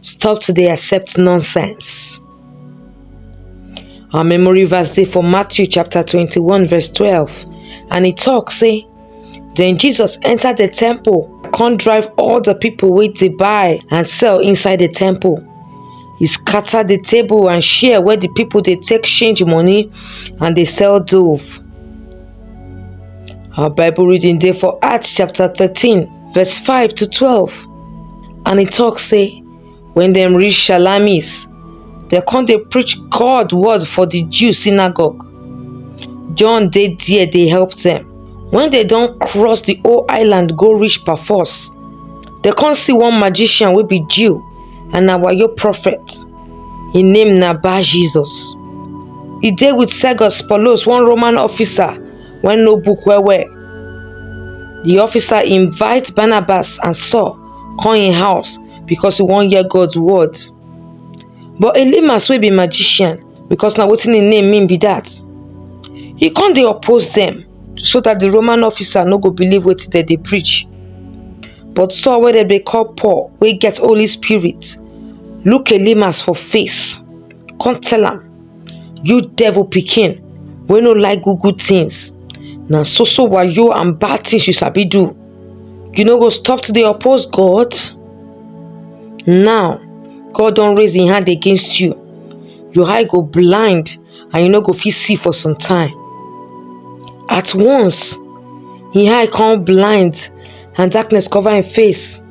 Stop to dey accept nonsense. Our memory verse dey for Matthew chapter 21 verse 12 and e talk say, Then Jesus entered the temple, come drive all the people wey dey buy and sell inside the temple. He scatter the table and share where the people dey take change money and dey sell dove. Our Bible reading dey for Acts chapter 13 verse 5 to 12 and e talk say when dem reach shalamis dem come dey preach god word for the jew synagogue john dey there dey help them when they don cross the whole island go reach paphos dem come see one magician wey be jew and na wayo prophet him name na bar jesus e dey with sergius paulus one roman officer wey know book well well. The officer invite Barnabas and Saul come im house because he wan hear God's word. But Elymas wey be magician because na wetin im name mean be that, he come dey oppose dem so that the Roman officer no go believe wetin dem dey preach. But Saul wey dem dey call Paul wey get Holy Spirit look Elymas for face come tell am You devil pikin wey no like good good things. Na so so wayo and bad things you sabi do. You no go stop to dey oppose God? Now, God don raise im hand against you. Your eye go blind and you no go fit see for some time. At once, im eye come blind and darkness cover im face.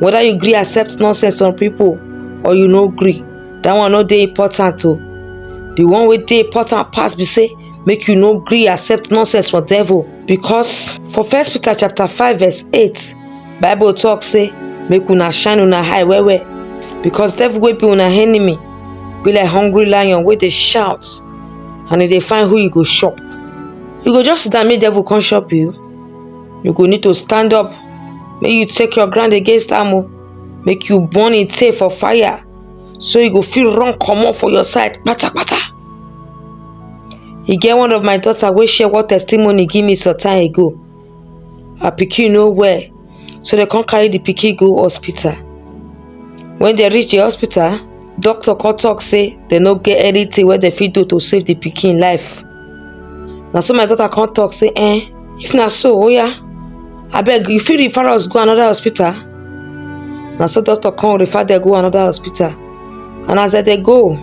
whether you gree accept nonsense from people or you no gree that one no dey important o the one wey dey important pass be say make you no gree accept nonsense from devil because for first peter chapter five verse eight bible talk say make una shine una eye well well because devil wey be una enemy be like hungry lion wey dey shout and e dey find who e go chop you go just sit down make devil come chop you you go need to stand up make you take your ground against am o make you burn im tail for fire so you go fit run comot for your side patapata e get one of my daughter wey share one testimony give me some time ago her pikin no well so dem come carry the pikin go hospital when dem reach the hospital doctor come talk say dem no get anything wey dem fit do to save the pikin life na so my daughter come talk say eh if na so oya abeg you fit refer us go another hospital na so doctor come refer dem go another hospital and as dem dey go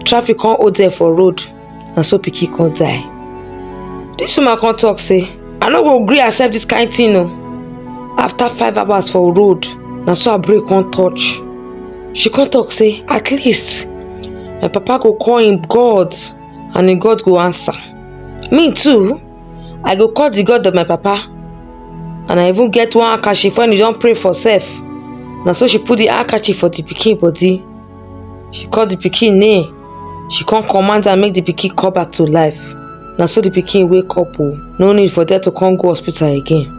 traffic come hold dem for road na so pikin come die dis woman come talk say i no go gree accept dis kind thing o after five hours for road na so her brain come touch she come talk say at least my papa go call him god And im God go answer, Me too, I go call the God of my papa. And I even get one handkerchief when you don pray for sef. Na so she put the handkerchief for the pikin body. She call the pikin name. She come command am make the pikin come back to life. Na so the pikin wake up o. No need for there to come go hospital again.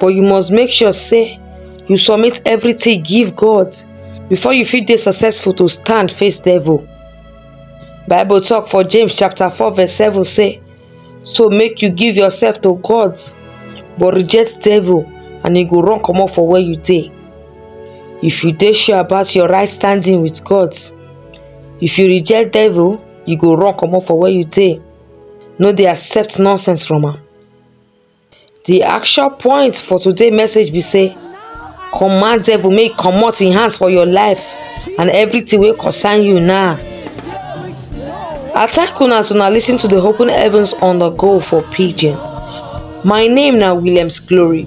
but you must make sure say you submit everything give god before you fit dey successful to stand face devil bible talk for james chapter 4 verse 7 say so make you give yourself to god but reject devil and he go run comot for where you dey if you dey sure about your right standing with god if you reject devil you go run comot for where you dey no dey accept nonsense from am The action point for today message be say command devil make comot im hands for your life and everything wey concern you now. I thank una as una listen to the open heavens on the go for pidgin. My name na Williams Glory.